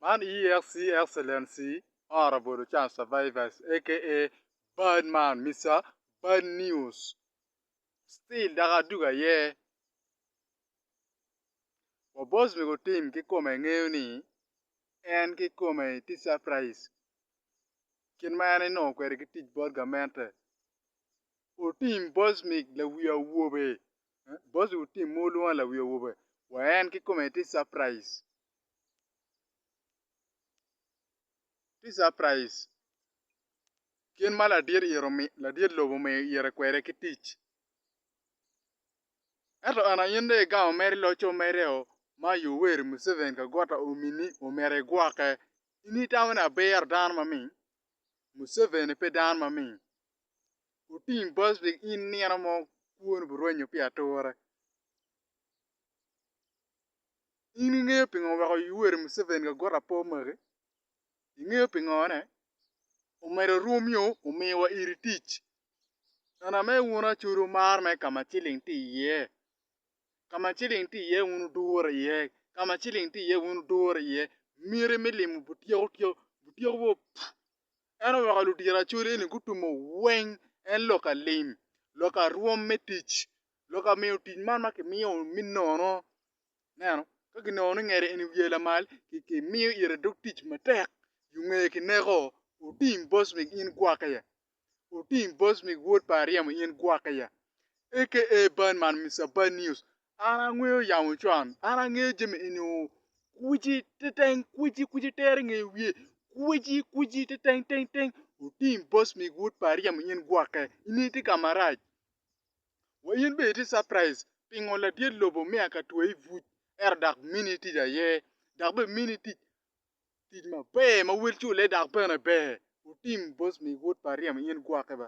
Man EXC Excellency Honourable Lucan Survivors aka bad man Mister bad news still dok adwogo aye wa boss mego tim kikome ngeyo ni en kikome tye surprise kit ma en enongo kwede ki tic bot gamente otim boss mig lawi awobe Boss wu tim ma wulwongo lawi awobe wa en kikome tye surprise tye surprise kit ma ladit ito ladit lobo omiyo ite kwede ki tic ento ena in dong igamo mere iloco mere o ma Yoweri Museveni kagwata omini omyero igwoke in itamo ni aber dano maming Museveni pe dano maming Otim bal pi in nino mo kwoni burwenyo pi ature. In ingeyo pingo weko Yoweri Museveni ka got apo magi? Ingeyo pingo ne? Omedo rwom nyo omiwa iri tic. Nana me wun acodi wumar me kama ciling tye iye. Kama ciling tye iye wun wudure iye. Kama ciling tye iye wun wudure iye. Miti me limo butyeko tyeko, butyeko boo ppu. En oweko ludyeracol eni gutumo weng en lok alim, lok arwom me tic, lok amiyo tic man ma kimiyo me nono. Ineno? Ka kinongo ni ngete eni wiye lamal, kimiyo ite dog tic matek, yo ngeye kineko. Otim boss mig in gwok iye. Otim boss mig wod pa aryemo in gwok iye. Aka ban man Mister Bad News An angweyo yamo con, an angeyo jami eni oo, Kweci teteng, kweci, kweci tere nge wiye, Kweci, kweci teteng teng teng, Otim boss mig wod pa aryemo in gwokke, in itye ka marac. Wa in bene itye surprise pingo ladit lobo omiya ka tweyi buc ento dok mini tic aye, dok bene mini tic tic maber ma wel cule dok bene ber, Otim boss mig wod pa aryemo in gwokke ba.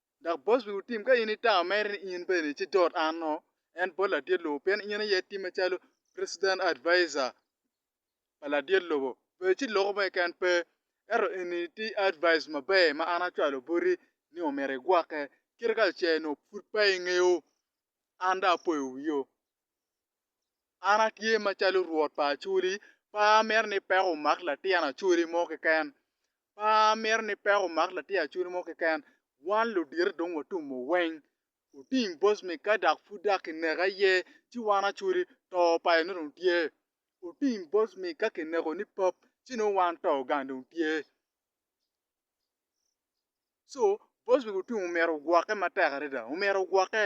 Dok bot wi otim ka in itamo mere ni in bene ci dot anno, en bot ladit lobo pien in aye itime calo President Advisor pa ladit lobo. Bed ci loko mo keken pe, ento eni ti advice maber ma an acwalo boti ni omyero igwokke. Kit kacel onongo pud pe ingeyo, an dong apoyo wio. An atye macalo Rwot pa Acoli, pe amito ni peko omak latin Acoli mo keken. Pe amito ni peko omak latin Acoli mo keken. Wan ludito dong watumo weng. Oting boc me ka dok pud dok kineka iye, ci wan Acoli to pa eno dong tye. Oting boc me ka kineko ni pap, ci nongo wan to gang dong tye. co bos wi gutum omyero ogwokke matek adada omyero ogwokke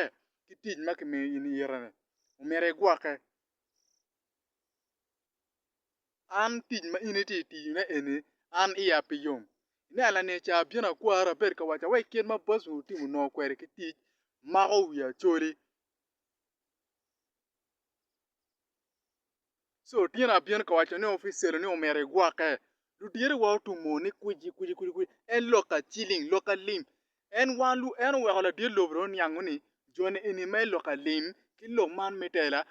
ki tic ma kimiyo in ite ni omyero igwokke an tic ma in iti tiyo ne eni an iya pe yom nia lani ca abino akwari abed ka waca wek kit ma bos wi otim onongo kweri ki tic mako wi acoli So tyen abino ka waco ni oficelo ni omyero igwoke. Ludyere wa otumo ni kwici kwici kwici kwici en lok aciling lok alim en wa lu en oweko ladyer lobo dong oniango ni joni eni me lok alim ki lok man me tela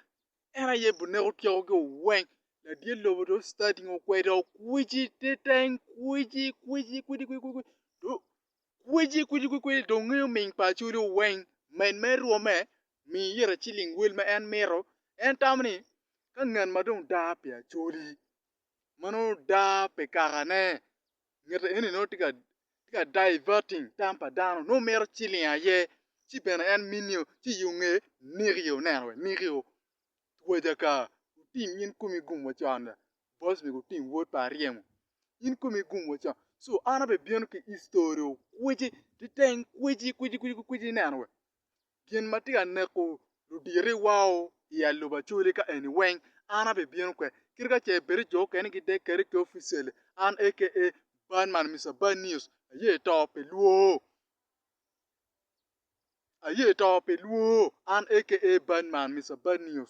en aye bu neko tyeko gi oweng ladyer lobo dong starting okwedo kwici teteng kwici kwici kwici kwici kwici du kwici kwici kwici kwici dong ngeyo ming pa acholi oweng men me rwome mi ira ciling wel ma en mito. En tamo ni, Ka ngat ma dong daa pi acoli, ma nongo daa pi kakane, ngat eni nongo tye ka diverting tam pa dano, nongo mito ciling aye, ci bene en minio, ci i yo nge nikio, ineno wee nikio, twaja ka, wutim in komi gum wa con, boss mego otim word pa aryemo, in komi gum wa con, so an abibino ki history okwici, kiteng kwici kwici kwici kwici ineno wee, gin ma tye ka neko ludiriwao i alubacolli ka eni weng, an abibino kwede. Kadi ka ce bed ni jo okene gidek kwede ki oficially, an aka Bad man, Mister Bad News, aye to pi lwoo. Aye to pi lwoo, an aka Bad man, Mister Bad News.